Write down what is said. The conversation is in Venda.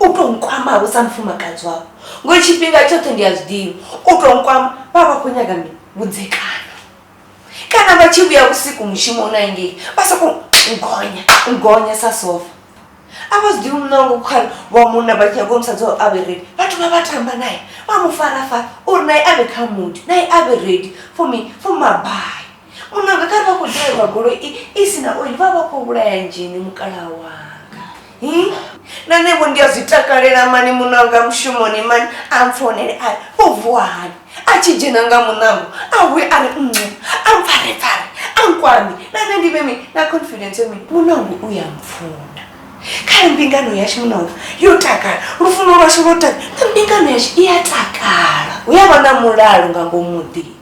u tou nkwama vho sa mufumakadzi wavho ngori tshifhinga tshoṱhe ndi a zwi ḓivha u tou nkwama vha vha khou nyaga mi vhudzekani kana vha tshi vhuya vhusiku mushumo u naingei vha sokou ngonya ngonya sa sofa a vha zwi ḓivhi munango khare wa munna vha tshi nyago musadzi wao a vhe redi vhathu vha vha tamba naye vha mu farafara uri naye a vhe kha mudi naye a vhe redi for me for mabai Munanga kha vha khou ḓirelwa goloi i si na oil vha vha khou vhulaya nzhini mukalaha wanga hmm? na nevho ndi a zwi takalela mani munanga mushumoni mani a mpfonele a u vuwa hani a tshi dzhena nga munango a wi a ri ncu a mpfarepfare a nkwami na nṋe ndi vhe mi na confidence mi munango u ya mpfuna kha mbingano yashu munanga yo takala lufuno lwashu lwo takala na mbingano yashu i ya takala hu ya vha na mulalo nga ngomuḓini